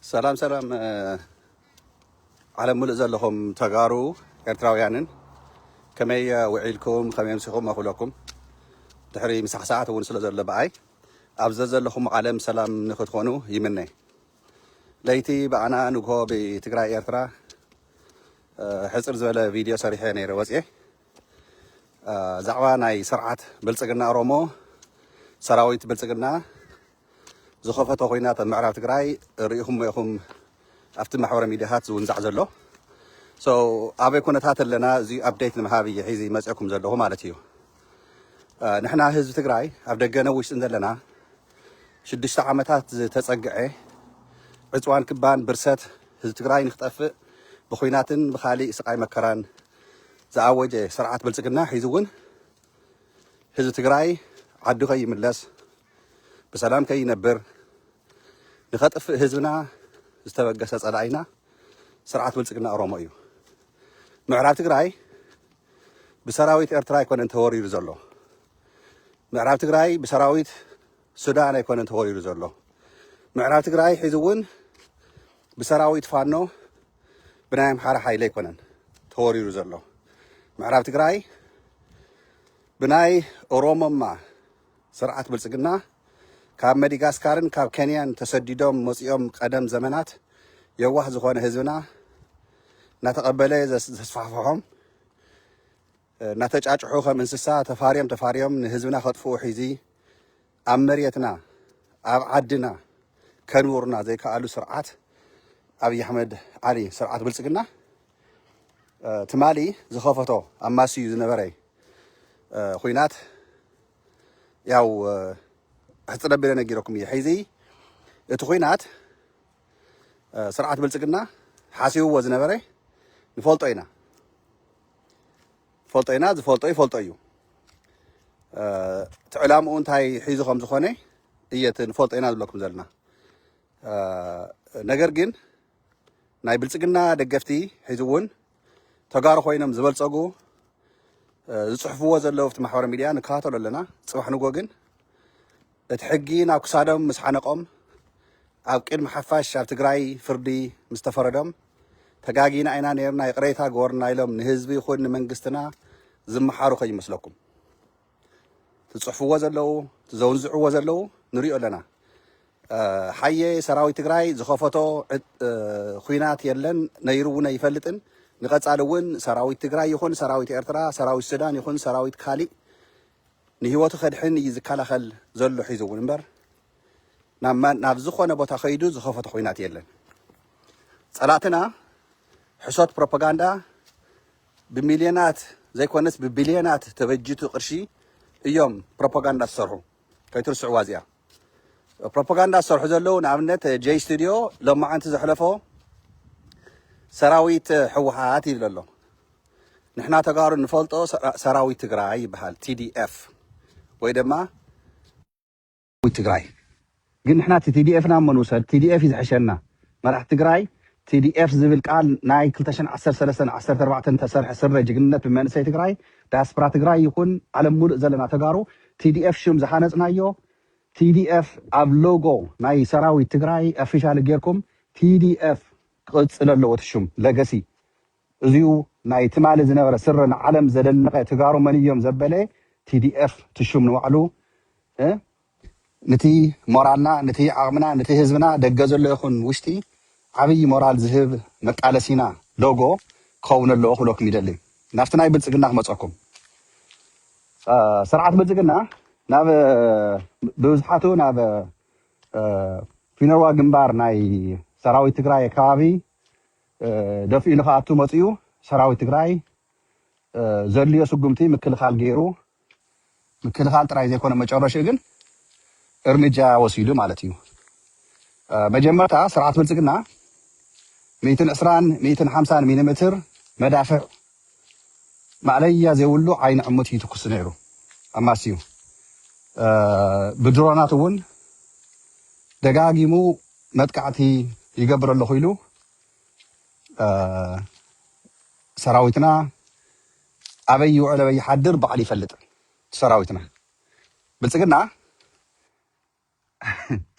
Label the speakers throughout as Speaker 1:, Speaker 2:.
Speaker 1: ሰላም ሰላም እ፣ ዓለም ሙሉእ ዘለኹም ተጋሩ ኤርትራውያንን ከመይ እ፣ ውዒልኩም ከመይ ኣምሲኹም ኣኹለኩም ድሕሪ ምሳሕ ሰዓት እውን ስለ ዘሎ ብኣይ ኣብ ዘዘለኹም ዓለም ሰላም ንክትኾኑ ይምነ ለይቲ ብኣና ንግሆ ብትግራይ ኤርትራ እ፣ ሕፅር ዝበለ ቪድዮ ሰሪሐ ነይረ ወፅየ ዛዕባ ናይ ስርዓት ብልፅግና ኦሮሞ ሰራዊት ብልፅግና ዝኸፈቶ ኩናት ኣብ ምዕራብ ትግራይ ርኢኹሞ ኢኹም ኣብቲ ማሕበረ ሚዲያታት ዝውንዛዕ ዘሎ ኣበይ ኩነታት ኣለና እዚ ኣፕዴት ንምሃብ እየ ሒዚ መፅእኩም ዘለኹ ማለት እዩ ንሕና ህዝቢ ትግራይ ኣብ ደገነ ውሽጥን ዘለና ሽዱሽተ ዓመታት ዝተፀግዐ ዕፅዋን ክባን ብርሰት ህዝቢ ትግራይ ንክጠፍእ ብኩናትን ብካሊእ ስቃይ መከራን ዝኣወጀ ስርዓት ብልፅግና ሒዙ እውን ህዝቢ ትግራይ ዓዱ ከይምለስ፣ ብሰላም ከይነብር፣ ንኸጥፍእ ህዝብና ዝተበገሰ ፀላኢና ስርዓት ብልፅግና ኦሮሞ እዩ። ምዕራብ ትግራይ ብሰራዊት ኤርትራ ኣይኮነን ተወሪሩ ዘሎ። ምዕራብ ትግራይ ብሰራዊት ሱዳን ኣይኮነን ተወሪሩ ዘሎ። ምዕራብ ትግራይ ሒዚ እውን ብሰራዊት ፋኖ ብናይ ኣምሓራ ሓይሊ ኣይኮነን ተወሪሩ ዘሎ ምዕራብ ትግራይ ብናይ ኦሮሞማ ስርዓት ብልጽግና ካብ መዲጋስካርን ካብ ኬንያን ተሰዲዶም መጺኦም ቀደም ዘመናት የዋህ ዝኾነ ህዝብና እናተቐበለ ዘስፋሕፍሖም እናተጫጭሑ ከም እንስሳ ተፋርዮም ተፋርዮም ንህዝብና ከጥፍኡ ሒዚ ኣብ መሬትና ኣብ ዓድና ከንብሩና ዘይከኣሉ ስርዓት ኣብይ ኣሕመድ ዓሊ ስርዓት ብልፅግና ትማሊ ዝኸፈቶ ኣማስዩ ዝነበረ ኩናት ያው ሕፅረ ቢለ ነጊረኩም እየ ሕዚ እቲ ኩናት ስርዓት ብልፅግና ሓሲብዎ ዝነበረ ንፈልጦ ኢና ፈልጦ ኢና ዝፈልጦ ይፈልጦ እዩ እቲ ዕላምኡ እንታይ ሒዙ ከም ዝኾነ እየ እቲ ንፈልጦ ኢና ዝብለኩም ዘለና ነገር ግን ናይ ብልፅግና ደገፍቲ ሕዚ እውን ተጋሩ ኮይኖም ዝበልፀጉ ዝፅሕፍዎ ዘለዉ ኣብቲ ማሕበራዊ ሚድያ ንከታተሎ ኣለና ፅባሕ ንጎ ግን እቲ ሕጊ ናብ ክሳዶም ምስ ዓነቆም ኣብ ቅድሚ ሓፋሽ ኣብ ትግራይ ፍርዲ ምስ ተፈረዶም ተጋጊና ኢና ኔርና ይቅሬታ ግበሩልና ኢሎም ንህዝቢ ይኹን ንመንግስትና ዝመሓሩ ከይመስለኩም። እቲ ዝጽሕፍዎ ዘለዉ እቲ ዘውንዝዕዎ ዘለዉ ንሪኦ ኣለና። ሓየ ሰራዊት ትግራይ ዝኸፈቶ ኹናት የለን ነይሩ እውን ኣይፈልጥን። ንቀጻሊ እውን ሰራዊት ትግራይ ይኹን ሰራዊት ኤርትራ፣ ሰራዊት ሱዳን ይኹን ሰራዊት ካሊእ ንህይወቱ ከድሕን እዩ ዝከላኸል ዘሎ ሒዙ እውን እምበር ናብ ዝኾነ ቦታ ከይዱ ዝኸፈቶ ኩናት የለን። ፀላእትና ሕሶት ፕሮፓጋንዳ ብሚልዮናት ዘይኮነስ ብቢልዮናት ተበጂቱ ቅርሺ እዮም ፕሮፓጋንዳ ዝሰርሑ ከይትርስዕዋ እዚኣ። ፕሮፖጋንዳ ዝሰርሑ ዘለዉ ንኣብነት ጀይ ስቱድዮ ሎማዓንቲ ዘሕለፎ ሰራዊት ሕወሓት ይብል ኣሎ ንሕና ተጋሩ ንፈልጦ ሰራዊት ትግራይ ይበሃል TDF ወይ ድማ ሰራዊት ትግራይ ግን ንሕና እቲ TDF ናብ መን ውሰድ TDF እዩ ዝሕሸና መራሕቲ ትግራይ TDF ዝብል ቃል ናይ ክልተ ሽሕን ዓሰርተ ሰለስተን ዓሰርተ ኣርባዕተን ዝተሰርሐ ስረ ጅግንነት ብመንእሰይ ትግራይ ዳያስፕራ ትግራይ ይኹን ዓለም ሙሉእ ዘለና ተጋሩ tdf ሽም ዝሃነፅናዮ tdf ኣብ ሎጎ ናይ ሰራዊት ትግራይ ኣፊሻሊ ገይርኩም tdf ክቅፅል ኣለዎ እቲ ሽም ለገሲ እዙይ ናይ ትማሊ ዝነበረ ስረ ንዓለም ዘደነቀ ትጋሩ መን እዮም ዘበለ tdf እቲ ሽም ንባዕሉ እ ንቲ ሞራልና ንቲ ዓቅምና ንቲ ህዝብና ደገ ዘሎ ይኩን ውሽጢ ዓብይ ሞራል ዝህብ መቃለሲና ሎጎ ክከውን ኣለዎ ክብለኩም ይደሊ ናብቲ ናይ ብልፅግና ክመፀኩም ስርዓት ብልፅግና ናብ ብብዝሓቱ ናብ ፊነዋ ግንባር ናይ ሰራዊት ትግራይ ከባቢ ደፊኡ ንክኣቱ መፂኡ ሰራዊት ትግራይ ዘድልዮ ስጉምቲ ምክልኻል ገይሩ ምክልኻል ጥራይ ዘይኮነ መጨረሽኡ ግን እርምጃ ወሲዱ ማለት እዩ። መጀመርታ ስርዓት ብልፅግና ሚእትን ዕስራን ሚእትን ሓምሳን ሚሊምትር መዳፍዕ ማእለያ ዘይብሉ ዓይኒ ዕሙት እዩ ይትኩስ ነይሩ ኣማስዩ። ብድሮናት እውን ደጋጊሙ መጥቃዕቲ ይገብር ኣለኹ ኢሉ ሰራዊትና ኣበይ ይውዕል ኣበይ ይሓድር ባዕሉ ይፈልጥ ሰራዊትና ብልፅግና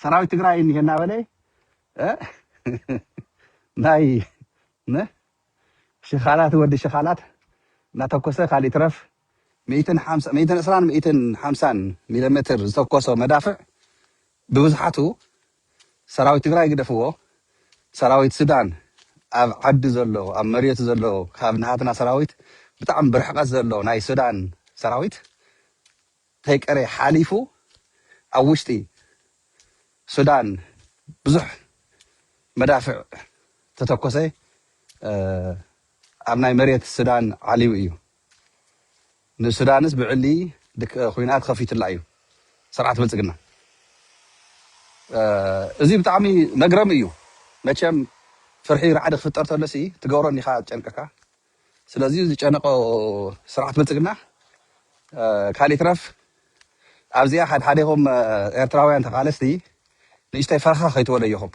Speaker 1: ሰራዊት ትግራይ እኒሀ እናበለ እ፣ ናይ ን ሽኻላት ወዲ ሽኻላት እናተኮሰ ካሊእ ትረፍ ሚእትን ሓምሳ- ሚእትን ዕስራን ሚእትን ሓምሳን ሚሊ ሜትር ዝተኮሶ መዳፍዕ ብብዝሓቱ ሰራዊት ትግራይ ግደፍዎ ሰራዊት ሱዳን ኣብ ዓዲ ዘሎ ኣብ መሬቱ ዘሎ ካብ ናሃትና ሰራዊት ብጣዕሚ ብርሕቀት ዘሎ ናይ ሱዳን ሰራዊት ተይቀረየ ሓሊፉ ኣብ ውሽጢ ሱዳን ብዙሕ መዳፍዕ ተተኮሰ ኣብ ናይ መሬት ሱዳን ዓልዩ እዩ ንሱዳንስ ብዕሊ ኩናት ከፊቱላ እዩ ስርዓት ብልፅግና እዚ ብጣዕሚ መግረሚ እዩ መቸም ፍርሒ ራዕዲ ክፍጠር ተሎሲ ትገብሮ እንዲኻ ጨንቅካ ስለዚ ዝጨነቆ ስርዓት ብልፅግና ካሊእ ይትረፍ ኣብዚኣ ሓድሓዴኹም ኤርትራውያን ተቃለስቲ ንእሽተይ ፈረኻ ከይትወለዩኹም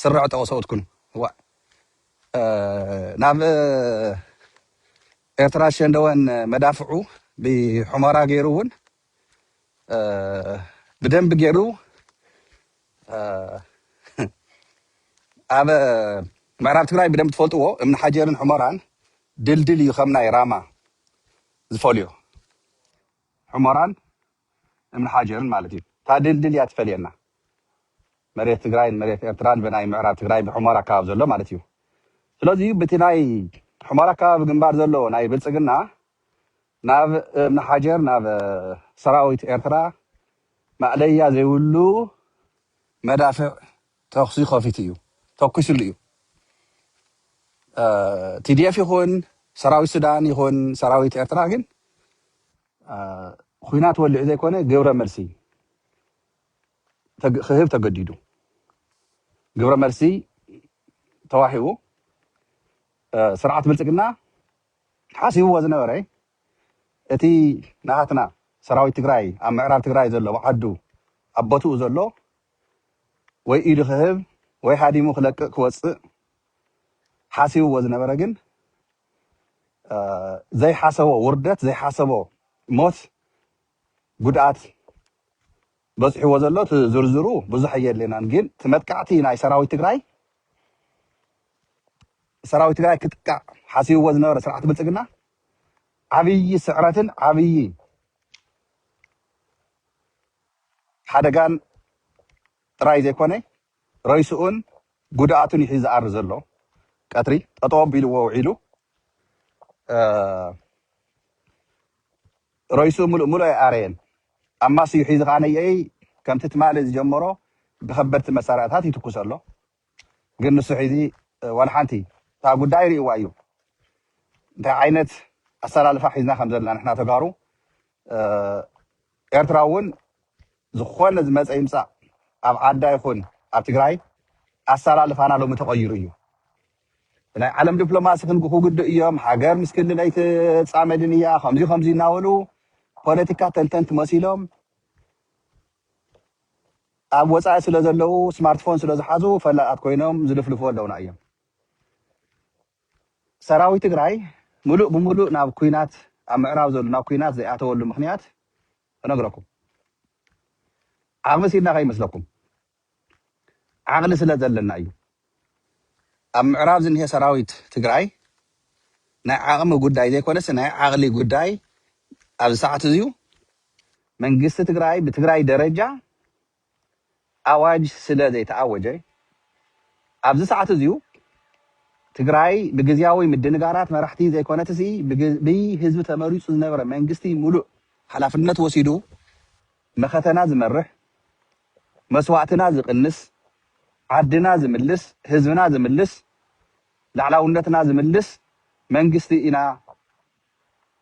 Speaker 1: ስረ ዕጠቁ ሰብኡት ኩኑ ዋእ ናብ ኤርትራ ሸንደወን መዳፍዑ ብሑመራ ገይሩ እውን ብደንቢ ገይሩ ኣብ ምዕራብ ትግራይ ብደንቢ ትፈልጥዎ እምኒ ሓጀርን ሑመራን ድልድል እዩ ከም ናይ ራማ ዝፈልዮ ሑመራን እምኒ ሓጀርን ማለት እዩ እታ ድልድል እያ ትፈልየና መሬት ትግራይን መሬት ኤርትራን ብናይ ምዕራብ ትግራይ ብሑመራ ኣካባቢ ዘሎ ማለት እዩ ስለዚ በቲ ናይ ሑመራ ኣካባቢ ግንባር ዘሎ ናይ ብልፅግና ናብ እምነሓጀር ናብ ሰራዊት ኤርትራ ማእለያ ዘይብሉ መዳፍዕ ተኹሲ ከፊቱ እዩ ተኩስሉ እዩ ቲዲኤፍ ይኹን ሰራዊት ሱዳን ይኹን ሰራዊት ኤርትራ ግን ኹናት ወሊዑ ዘይኮነ ግብረ መልሲ ክህብ ተገዲዱ ግብረ መልሲ ተዋሂቡ ስርዓት ብልፅግና ሓሲብዎ ዝነበረ እቲ ናሃትና ሰራዊት ትግራይ ኣብ ምዕራብ ትግራይ ዘሎ ኣብ ዓዱ ኣብ ቦትኡ ዘሎ ወይ ኢዱ ክህብ ወይ ሃዲሙ ክለቅቅ ክወፅእ ሓሲብዎ ዝነበረ ግን ዘይሓሰቦ ውርደት ዘይሓሰቦ ሞት ጉድኣት በጺሕዎ ዘሎ እቲ ዝርዝሩ ብዙሕ ኣየድልየናን ግን እቲ መጥቃዕቲ ናይ ሰራዊት ትግራይ ሰራዊት ትግራይ ክጥቃዕ ሓሲብዎ ዝነበረ ስርዓት ብልጽግና ዓብዪ ስዕረትን ዓብዪ ሓደጋን ጥራይ ዘይኮነ ረይስኡን ጉድኣቱን እዩ ሒዙ ዝኣሪ ዘሎ ቀትሪ ጠጠው ኣቢልዎ ውዒሉ ሮይሱ ምሉእ ምሉእ ኣይኣረየን። ኣብ ማስዩ ሒዙ ከኣ ነየኢይ ከምቲ ትማሊ ዝጀመሮ ብከበድቲ መሳርያታት ይትኩስ ኣሎ። ግን ንሱ ሒዚ ዋላ ሓንቲ እታ ጉዳይ ሪእዋ እዩ። እንታይ ዓይነት ኣሰላልፋ ሒዝና ከም ዘለና ንሕና ተጋሩ ኤርትራ እውን ዝኾነ ዝመጸ ይምጻእ ኣብ ዓዳ ይኹን ኣብ ትግራይ ኣሰላልፋና ሎሚ ተቐይሩ እዩ። ብናይ ዓለም ድፕሎማሲ ክንግኩ ግድእ እዮም ሃገር ምስ ክልል ኣይትፃመድን እያ ከምዙይ ከምዙይ እናበሉ ፖለቲካ ተንተንቲ መሲሎም ኣብ ወፃኢ ስለ ዘለው ስማርትፎን ስለ ዝሓዙ ፈላጣት ኮይኖም ዝልፍልፉ ኣለውና እዮም ሰራዊት ትግራይ ምሉእ ብምሉእ ናብ ኩናት ኣብ ምዕራብ ዘሎ ናብ ኩናት ዘይኣተወሉ ምክንያት እነግረኩም ዓቕሚ ሲድና ከይመስለኩም ዓቕሊ ስለ ዘለና እዩ። ኣብ ምዕራብ ዝኒሀ ሰራዊት ትግራይ ናይ ዓቕሚ ጉዳይ ዘይኮነስ ናይ ዓቕሊ ጉዳይ ኣብዚ ሰዓት እዚዩ። መንግስቲ ትግራይ ብትግራይ ደረጃ ኣዋጅ ስለ ዘይተኣወጀ ኣብዚ ሰዓት እዚዩ ትግራይ ብግዝያዊ ምድንጋራት መራሕቲ ዘይኮነትሲ ብህዝቢ ተመሪፁ ዝነበረ መንግስቲ ሙሉእ ሓላፍነት ወሲዱ መኸተና ዝመርሕ መስዋእትና ዝቅንስ ዓድና ዝምልስ ህዝብና ዝምልስ ላዕላውነትና ዝምልስ መንግስቲ ኢና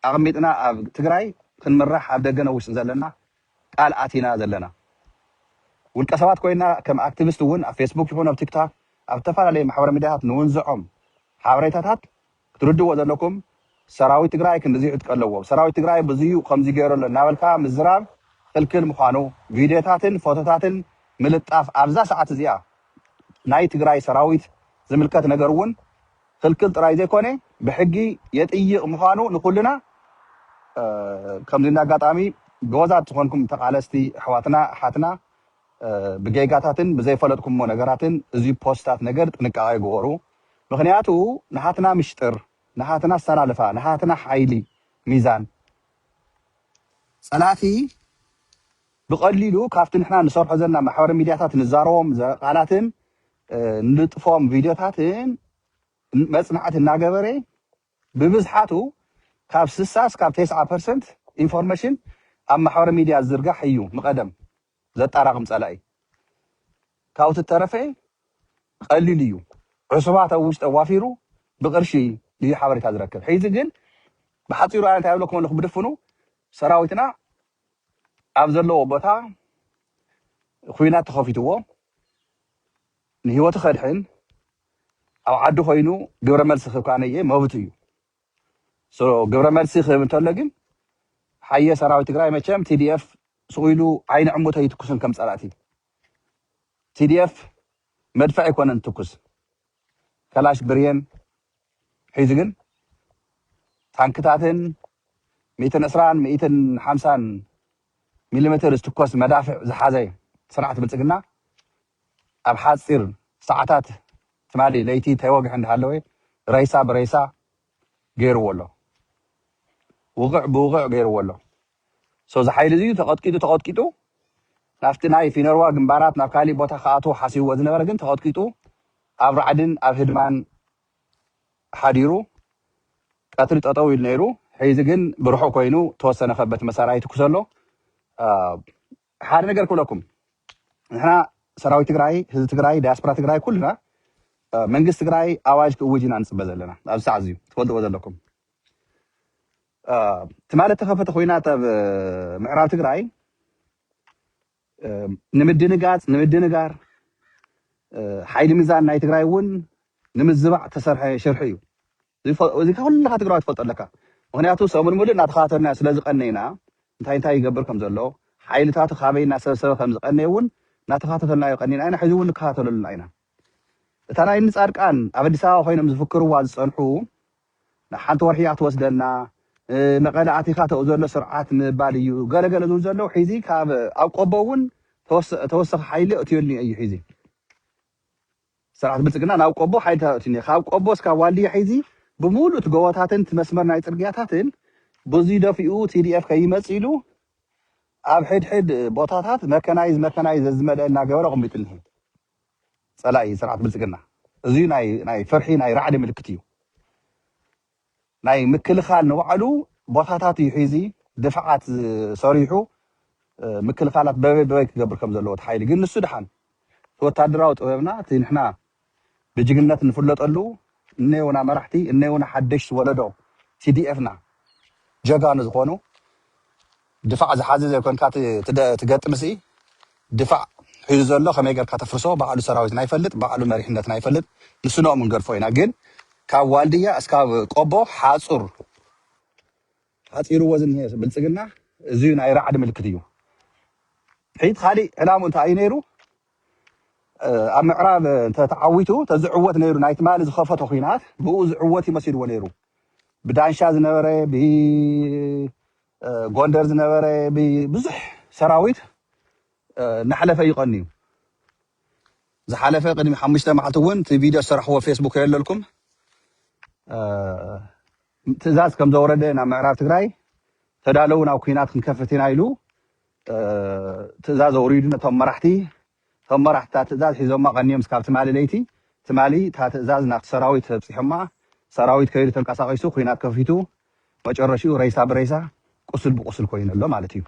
Speaker 1: ኣቅሚጥና ኣብ ትግራይ ክንምራሕ ኣብ ደገ ን ውሽጢ ዘለና ቃል ኣቲና ዘለና ውልቀ ሰባት ኮይና ከም ኣክቲቪስት እውን ኣብ ፌስቡክ ይኩን ኣብ ቲክታክ ኣብ ዝተፈላለዩ ማሕበረ ሚድያታት ንውንዞዖም ሓበሬታታት ክትርድእዎ ዘለኩም ሰራዊት ትግራይ ክንድዚ ዕጥቂ ኣለዎ ሰራዊት ትግራይ ብዙዩ ከምዚ ገይሩ ኣሎ እናበልካ ምዝራብ ክልክል ምዃኑ ቪድዮታትን ፎቶታትን ምልጣፍ ኣብዛ ሰዓት እዚኣ ናይ ትግራይ ሰራዊት ዝምልከት ነገር እውን ክልክል ጥራይ ዘይኮነ ብሕጊ የጥይቕ ምዃኑ ንኩልና ከምዚ እንዳ ኣጋጣሚ ጎበዛት ዝኾንኩም ተቓለስቲ ኣሕዋትና ኣሓትና ብጌጋታትን ብዘይፈለጥኩሞ ነገራትን እዚ ፖስታት ነገር ጥንቃቄ ግበሩ። ምክንያቱ ናሃትና ምሽጥር ናሃትና ኣሳላልፋ ናሃትና ሓይሊ ሚዛን ጸላቲ ብቀሊሉ ካብቲ ንሕና ንሰርሖ ዘለና ማሕበረ ሚድያታት ንዛረቦም ቃላትን ንልጥፎም ቪድዮታትን መጽናዕቲ እናገበረ ብብዝሓቱ ካብ ስሳ እስካብ ቴስዓ ፐርሰንት ኢንፎርሜሽን ኣብ ማሕበረ ሚድያ ዝዝርጋሕ እዩ ምቀደም ዘጣራቅም ጸላኢ ካብኡ ትተረፈ ቀሊል እዩ ዕሱባት ኣብ ውሽጢ ኣዋፊሩ ብቅርሺ እዩ ሓበሬታ ዝረክብ ሒዚ ግን ብሓጺሩ ኣነ እንታይ እብለኩም ኣለኹ ብድፍኑ ሰራዊትና ኣብ ዘለዎ ቦታ ኩናት ተኸፊትዎ ንህይወቱ ከድሕን ኣብ ዓዱ ኮይኑ ግብረ መልሲ ክህብ ከኣ ነየ መብቱ እዩ ግብረ መልሲ ክህብ እንተሎ ግን ሓየ ሰራዊት ትግራይ መቸም ቲዲኤፍ ሱቕ ኢሉ ዓይኒ ዕሙት ኣይትኩስን ከም ፀላእቲ ቲዲኤፍ መድፍዕ ኣይኮነን ትኩስ ከላሽ ብርየን ሒዙ ግን ታንክታትን ሚእትን ዕስራን ሚእትን ሓምሳን ሚሊሜትር ዝትኮስ መዳፍዕ ዝሓዘ ስርዓት ብልፅግና ኣብ ሓጺር ሰዓታት ትማሊ ለይቲ ተወግሐ እንዳሃለወ ሬሳ ብሬሳ ገይርዎ ኣሎ ውቕዕ ብውቕዕ ገይርዎ ኣሎ so እዚ ሓይሊ እዚ ተቐጥቂጡ ተቐጥቂጡ ናብቲ ናይ ፊነርዋ ግንባራት ናብ ካሊእ ቦታ ክኣትዎ ሓሲብዎ ዝነበረ ግን ተቐጥቂጡ ኣብ ራዕድን ኣብ ህድማን ሓዲሩ ቀትሪ ጠጠው ኢሉ ነይሩ ሕዚ ግን ብርሑቕ ኮይኑ ተወሰነ ከበቲ መሳርያ ይትኩስ ኣሎ ሓደ ነገር ክብለኩም ንሕና ሰራዊት ትግራይ ህዝቢ ትግራይ ዳያስፖራ ትግራይ ኩልና መንግስቲ ትግራይ ኣዋጅ ክእውጅ ኢና ንፅበ ዘለና ኣብዚ ሰዓት እዚዩ ትፈልጥዎ ዘለኩም ትማሊ እተኸፈተ ኮይናት ኣብ ምዕራብ ትግራይ ንምድንጋፅ ንምድንጋር ሓይሊ ሚዛን ናይ ትግራይ እውን ንምዝባዕ ተሰርሐ ሽርሒ እዩ እዚ ኩልኻ ትግራዋይ ትፈልጦ ኣለካ ምኽንያቱ ሰሙን ሙሉእ እናተኸታተልናዮ ስለዝቐነይና እንታይ እንታይ ይገብር ከምዘሎ ሓይልታቱ ካበይ እናሰብሰበ ከምዝቐነየ እውን እናተኸታተልናዮ ቀኒና ኢና ሕዚ እውን ንከታተሎ ኣለና ኢና እታ ናይ እኒ ፃድቃን ኣብ ኣዲስ ኣበባ ኮይኖም ዝፍክርዋ ዝፀንሑ ንሓንቲ ወርሒ እያ ትወስደና መቐለ ኣቲኻ ተኡ ዘሎ ስርዓት ምባል እዩ ገለገለ ዝብል ዘለዉ ሒዚ ካብ ኣብ ቆቦ እውን ተወሰኺ ሓይሊ እትዮልኒ እዩ ሒዚ ስርዓት ብልፅግና ናብ ቆቦ ሓይልታት ኣእትዩ እኒሀ። ካብ ቆቦ እስካብ ዋልድያ ሒዚ ብሙሉእ እቲ ጎቦታትን እቲ መስመር ናይ ፅርግያታትን በዙይ ደፊኡ tdf ከይመፅእ ኢሉ ኣብ ሕድሕድ ቦታታት መከናይዝ መከናይዝ ዘዝመልአ እናገበረ ኣቐሚጡ እኒሀ ፀላኢ ስርዓት ብልፅግና። እዙይ ናይ ፍርሒ ናይ ራዕዲ ምልክት እዩ። ናይ ምክልኻል ንባዕሉ ቦታታት እዩ ሒዙ ድፍዓት ሰሪሑ ምክልኻላት በበይ በበይ ክገብር ከም ዘለዎ እቲ ሓይሊ ግን ንሱ ድሓን እቲ ወታደራዊ ጥበብና እቲ ንሕና ብጅግንነት እንፍለጠሉ እነዮና መራሕቲ እነዮና ሓደሽቲ ወለዶ TDF-ና ጀጋኑ ዝኾኑ ድፋዕ ዝሓዚ ዘይኮንካ ትገጥምሲ ድፋዕ ሒዙ ዘሎ ከመይ ገርካ ተፍርሶ ባዕሉ ሰራዊትና ይፈልጥ ባዕሉ መሪሕነትና ይፈልጥ ንስኖኦም ክንገድፎ ኢና ግን ካብ ዋልድያ እስካብ ቆቦ ሓፁር ሓፂርዎ ዝኒሀ ብልፅግና እዙይ ናይ ራዕዲ ምልክት እዩ ሕይት ካሊእ ዕላሙ እንታይ እዩ ነይሩ ኣብ ምዕራብ እንተ ተዓዊቱ ተዝዕወት ነይሩ ናይ ትማሊ ዝኸፈቶ ኩናት ብኡ ዝዕወት እዩ መሲልዎ ነይሩ ብዳንሻ ዝነበረ ብ ጎንደር ዝነበረ ብዙሕ ሰራዊት እናሓለፈ እዩ ቀንዩ። ዝሓለፈ ቅድሚ ሓሙሽተ መዓልቲ እውን እቲ ቪድዮ ዝሰራሕዎ ፌስቡክ የለልኩም ትእዛዝ ከም ዘውረደ ናብ ምዕራብ ትግራይ ተዳለው ናብ ኩናት ክንከፍት ኢና ኢሉ ትእዛዝ ኣውሪዱ ነቶም መራሕቲ እቶም መራሕቲ እታ ትእዛዝ ሒዞማ ቀንዮም እስካብ ትማሊ ለይቲ ትማሊ እታ ትእዛዝ ናብቲ ሰራዊት ኣብፂሖማ ሰራዊት ከይዱ ተንቀሳቂሱ ኩናት ከፊቱ መጨረሽኡ ሬሳ ብሬሳ ቁስል ብቁስል ኮይኑ ኣሎ ማለት እዩ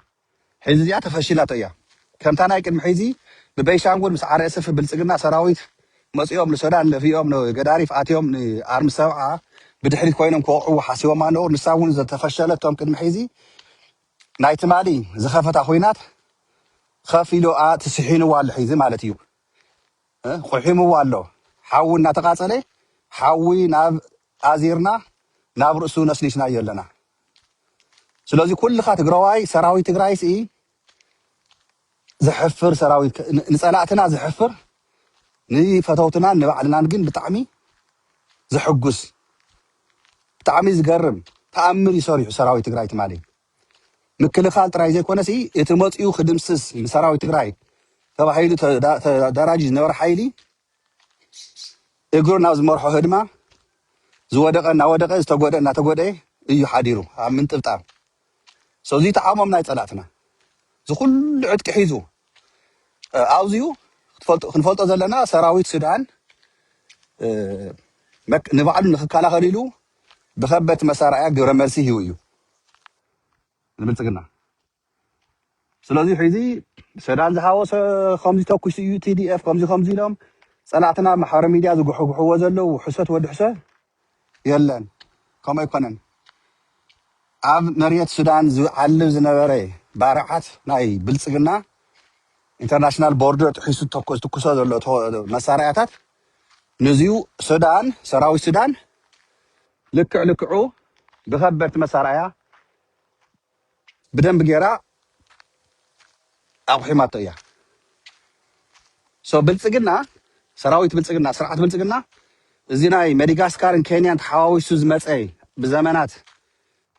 Speaker 1: ሒዚ እዚኣ ተፈሺላቶ እያ ከምታ ናይ ቅድሚ ሒዚ ብቤንሻንጉል ምስ RSF ብልፅግና ሰራዊት መፂኦም ንሶዳን ደፊኦም ንገዳሪፍ ኣትዮም ንኣርሚ ሰብዓ ብድሕሪት ኮይኖም ክወቅዕዎ ሓሲቦማ ነበሩ ንሳ እውን ዝተፈሸለቶም ቅድሚ ሒዚ ናይ ትማሊ ዝኸፈታ ኹናት ኸፊሉኣ እቲ ስሒኑዋ ኣሎ ሒዚ ማለት እዩ እ ቑሒሙዋ ኣሎ ሓዊ እናተቓፀለ ሓዊ ናብ ኣዚርና ናብ ርእሱ ነስኒስናዮ ኣለና ስለዚ ኩልኻ ትግራዋይ ሰራዊት ትግራይስ እዪ ዘሕፍር ሰራዊት ንፀላእትና ዘሕፍር ንፈተውትናን ንባዕልናን ግን ብጣዕሚ ዘሕጉስ ብጣዕሚ ዝገርም ተኣምር እዩ ሰሪሑ ሰራዊት ትግራይ ትማሊ ምክልኻል ጥራይ ዘይኮነ ሲ እቲ መፅኡ ክድምስስ ንሰራዊት ትግራይ ተባሂሉ ተዳራጅ ዝነበረ ሓይሊ እግሩ ናብ ዝመርሖ ህድማ ዝወደቐ እናወደቐ ዝተጎድኣ እናተጎድኤ እዩ ሓዲሩ ኣብ ምንጥብጣብ ሶ እዚ ተዓሞም ናይ ፀላእትና እዚ ኩሉ ዕጥቂ ሒዙ እ፣ ኣብዚኡ ክትፈልጦ- ክንፈልጦ ዘለና ሰራዊት ሱዳን እ፣ መክ- ንባዕሉ ንክከላኸል ኢሉ ብከበድቲ መሳርያ ግብረ መልሲ ሂቡ እዩ ንብልፅግና ስለዚ ሕዚ ሰዳን ዝሃወሰ ከምዚ ተኩሱ እዩ ቲዲኤፍ ከምዚ ከምዚ ኢሎም ፀላእትና ኣብ ማሕበራዊ ሚድያ ዝጉሕጉሕዎ ዘለዉ ውሕሰት ወዲ ሕሰ የለን ከምኡ ኣይኮነን ኣብ መሬት ሱዳን ዝዓልብ ዝነበረ ባርዓት ናይ ብልፅግና ኢንተርናሽናል ቦርደር ጥሒሱ ተኮ- ዝትኩሶ ዘሎ ተወ- መሳርያታት ንዚዩ ሱዳን ሰራዊት ሱዳን ልክዕ ልክዑ ብከበድቲ መሳርያ ብደንብ ጌራ ኣቑሒማቶ እያ ሶ ብልጽግና ሰራዊት ብልጽግና ስርዓት ብልጽግና እዚ ናይ መዲጋስካርን ኬንያን ተሓዋዊሱ ዝመጸ ብዘመናት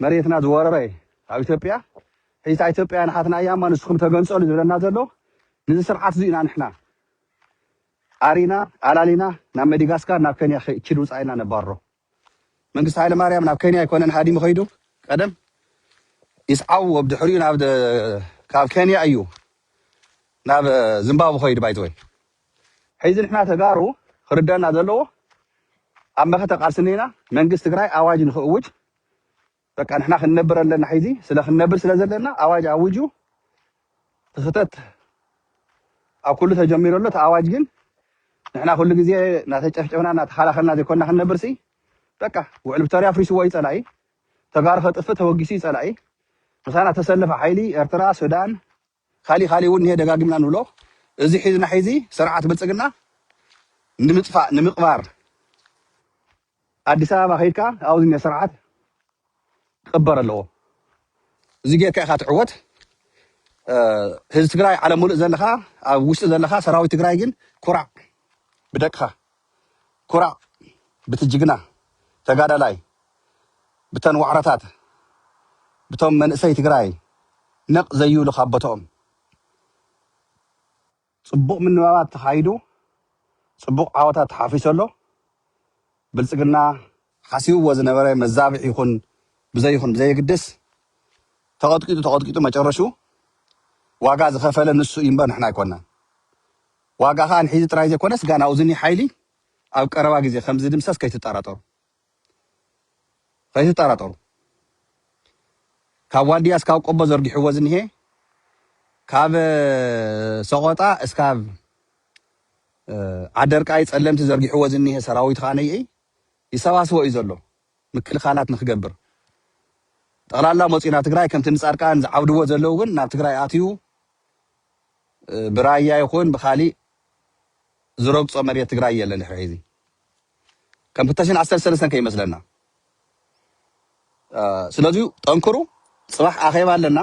Speaker 1: መሬትና ዝወረረ ኣብ ኢትዮጵያ ሕጂ እታ ኢትዮጵያ ንሓትና እያ እማ ንስኹም ተገንጸሉ ዝብለና ዘሎ ንዚ ስርዓት እዚ ኢና ንሕና ኣሪና ኣላሊና ናብ መዲጋስካር ናብ ኬንያ ኪ- ኪድ ውጻኢልና ነባሮ መንግስቲ ሃይለማርያም ናብ ከንያ ኣይኮነን ሃዲሙ ከይዱ ቀደም ይስዓው ኣብ ድሕሪኡ ናብ ካብ ከንያ እዩ ናብ ዝምባቡ ከይዱ ባይዘወይ ሕዚ ንሕና ተጋሩ ክርደና ዘለዎ ኣብ መኸተ ቃልሲ እኒና መንግስቲ ትግራይ ኣዋጅ ንክእውጅ በቃ ንሕና ክንነብር ኣለና ሕዚ ስለ ክንነብር ስለ ዘለና ኣዋጅ ኣውጁ እቲ ክተት ኣብ ኩሉ ተጀሚሩ ኣሎ እቲ ኣዋጅ ግን ንሕና ኩሉ ግዜ እናተጨፍጨፍና እናተኸላኸልና ዘይኮንና ክንነብር ሲ በቃ ውዕል ፕሪቶርያ ኣፍሪስዎ እዩ ፀላኢ ተጋሩ ከጥፍእ ተወጊሱ እዩ ፀላኢ ምሳና ተሰለፈ ሓይሊ ኤርትራ ሱዳን ካሊእ ካሊእ እውን እኒሀ ደጋጊምና ንብሎ እዚ ሒዝና ሒዚ ስርዓት ብልፅግና ንምፅፋእ ንምቅባር ኣዲስ ኣበባ ከይድካ ኣብኡ ዝኒሀ ስርዓት ክቅበር ኣለዎ እዚ ገይርካ ኢካ ትዕወት ህዝቢ ትግራይ ዓለም ሙሉእ ዘለካ ኣብ ውሽጢ ዘለካ ሰራዊት ትግራይ ግን ኩራዕ ብደቅካ። ኩራዕ ብቲ ጅግና ተጋዳላይ ብተን ዋዕሮታት ብቶም መንእሰይ ትግራይ ነቅ ዘይብሉ ካብ ቦትኦም። ፅቡቅ ምንባባት ተካይዱ ፅቡቅ ዓወታት ተሓፊሱ ኣሎ ብልፅግና። ሓሲብዎ ዝነበረ መዛብዕ ይኹን ብዘይኹን ብዘየግድስ ተቀጥቂጡ ተቀጥቂጡ መጨረሽኡ ዋጋ ዝኸፈለ ንሱ እዩምበር ንሕና ኣይኮናን ዋጋ ከኣ ንሕዚ ጥራይ ዘይኮነስ ጋን ኣውዝኒ ሓይሊ ኣብ ቀረባ ግዜ ከም ዝድምሰስ ከይትጠራጠሩ ከይትጠራጠሩ ካብ ዋድያ እስካብ ቆቦ ዘርጊሕዎ ዝንሄ ካብ ሰቆጣ እስካብ ዓደርቃይ ጸለምቲ ዘርጊሕዎ ዝንሄ ሰራዊት ከኣ ነይኢ ይሰባስቦ እዩ ዘሎ ምክልኻላት ንክገብር ጠቕላላ መጺኡ ናብ ትግራይ ከምቲ ንጻድቃን ዝዓብድዎ ዘለው ግን ናብ ትግራይ ኣትዩ ብራያ ይኹን ብኻሊእ ዝረግፆ መሬት ትግራይ የለን ድሕሪ ሕዚ ከም ክልተ ሽሕን ዓሰርተ ሰለስተን ከይመስለና ስለዚ ጠንክሩ ፅባሕ ኣኼባ ኣለና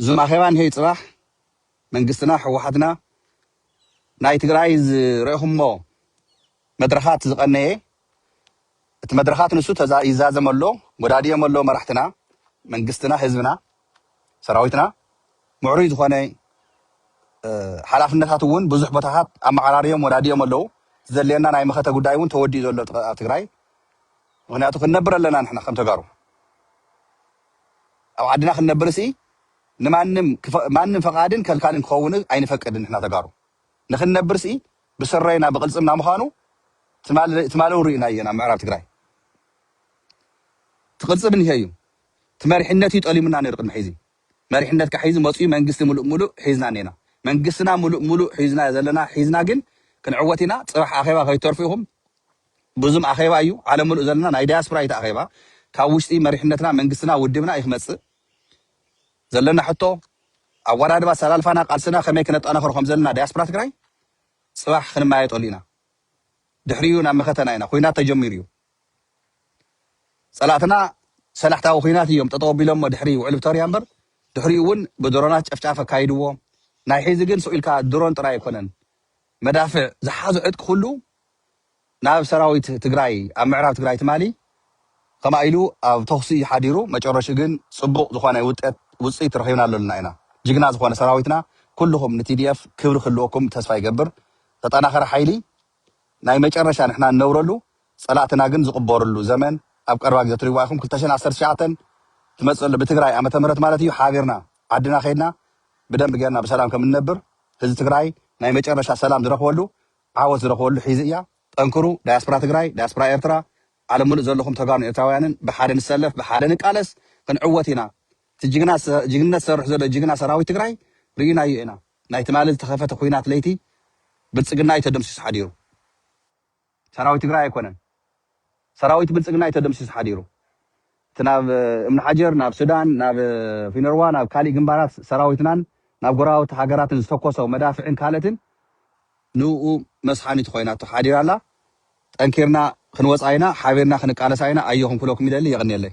Speaker 1: እዞም ኣኼባ እንሄ ፅባሕ መንግስትና ሕወሓትና ናይ ትግራይ ዝረእኹሞ መድረኻት ዝቐነየ እቲ መድረኻት ንሱ ተዛ ይዛዘም ኣሎ ጎዳድዮም ኣሎ መራሕትና መንግስትና ህዝብና ሰራዊትና ምዕሩይ ዝኾነ ሓላፍነታት እውን ብዙሕ ቦታታት ኣመዓራርዮም ወዳድዮም ኣለው እቲ ዘድልየና ናይ መኸተ ጉዳይ እውን ተወዲኡ ዘሎ ኣብ ትግራይ ምክንያቱ ክንነብር ኣለና ንሕና ከም ተጋሩ ኣብ ዓድና ክንነብር ሲ ንማንም ማንም ፈቃድን ከልካልን ክኸውን ኣይንፈቅድን ንሕና ተጋሩ ንክንነብርሲ ብስረይና ብቅልፅምና ምኻኑ ትማሊ እውን ሪእናዮ ኢና ምዕራብ ትግራይ እቲ ቅልፅም እኒሀ እዩ እቲ መሪሕነት እዩ ጠሊሙና ነይሩ ቅድሚ ሕዚ መሪሕነት ካዓ ሕዚ መፅኡ መንግስቲ ሙሉእ ሙሉእ ሒዝና እኒና መንግስትና ሙሉእ ሙሉእ ሒዝናዮ ዘለና ሒዝና ግን ክንዕወት ኢና ፅባሕ ኣኼባ ከይትተርፉ ኢኹም ብዙም ኣኼባ እዩ ዓለም ሙሉእ ዘለና ናይ ዳያስፕራ እዩ እቲ ኣኼባ ካብ ውሽጢ መሪሕነትና መንግስትና ውድብና እዩ ክመፅእ ዘለና ሕቶ ኣወዳድባ ኣሰላልፋና ቃልስና ከመይ ክነጣናኽሮ ከምዘለና ዳያስፕራ ትግራይ ፅባሕ ክንመያየጠሉ ኢና ድሕሪኡ ናብ መኸተና ኢና ኩናት ተጀሚሩ እዩ ፀላእትና ሰላሕታዊ ኩናት እዮም ጠጠው ኣቢሎሞ ድሕሪ ውዕል ፕቶርያ እምበር ድሕሪኡ እውን ብድሮናት ጨፍጫፍ ኣካይድዎ ናይ ሒዚ ግን ስኢልካ ድሮን ጥራይ ኣይኮነን መዳፍዕ ዝሓዞ ዕጥቂ ኩሉ ናብ ሰራዊት ትግራይ ኣብ ምዕራብ ትግራይ ትማሊ ከምኣ ኢሉ ኣብ ተኹሲ እዩ ሓዲሩ መጨረሽኡ ግን ፅቡቅ ዝኾነ ውጠት ውፅኢት ረኺብናሉ ኣለና ኢና ጅግና ዝኾነ ሰራዊትና ኩሉኹም ንቲዲኤፍ ክብሪ ክህልወኩም ተስፋ ይገብር ተጠናኸረ ሓይሊ ናይ መጨረሻ ንሕና ንነብረሉ ፀላእትና ግን ዝቅበርሉ ዘመን ኣብ ቀረባ ግዘ ትሪእዋ ኢኩም ክልተ ሽሕን ዓሰርተ ትሽዓተን ትመፅእ ኣሎ ብትግራይ ዓመተ ምህረት ማለት እዩ ሓቢርና ዓድና ከይድና ብደንብ ገይርና ብሰላም ከም እንነብር ህዝቢ ትግራይ ናይ መጨረሻ ሰላም ዝረክበሉ ዓወት ዝረክበሉ ሒዚ እያ ጠንክሩ ዳያስፕራ ትግራይ ዳያስፕራ ኤርትራ ዓለም ሙሉእ ዘለኩም ተጋሩን ኤርትራውያንን ብሓደ ንሰለፍ ብሓደ ንቃለስ ክንዕወት ኢና እቲ ጅግና ጅግንነት ዝሰርሕ ዘሎ ጅግና ሰራዊት ትግራይ ሪኢናዮ ኢና ናይ ትማሊ ዝተከፈተ ኩናት ለይቲ ብልፅግና እዩ ተደምሲሱ ሓዲሩ። ሰራዊት ትግራይ ኣይኮነን ሰራዊት ብልፅግና እዩ ተደምሲሱ ሓዲሩ እቲ ናብ እምነሓጀር ናብ ሱዳን ናብ ፊነርዋ ናብ ካሊእ ግንባራት ሰራዊትናን ናብ ጎረባብቲ ሃገራትን ዝተኮሶ መዳፍዕን ካልእትን ንኡ መስሓኒት ኾይናቶ ሓዲራ ኣላ ጠንኪርና ክንወፃ ኢና ሓቢርና ክንቃለሳ ኢና ኣዮኹም ክብለኩም ይደሊ የቕንየለይ።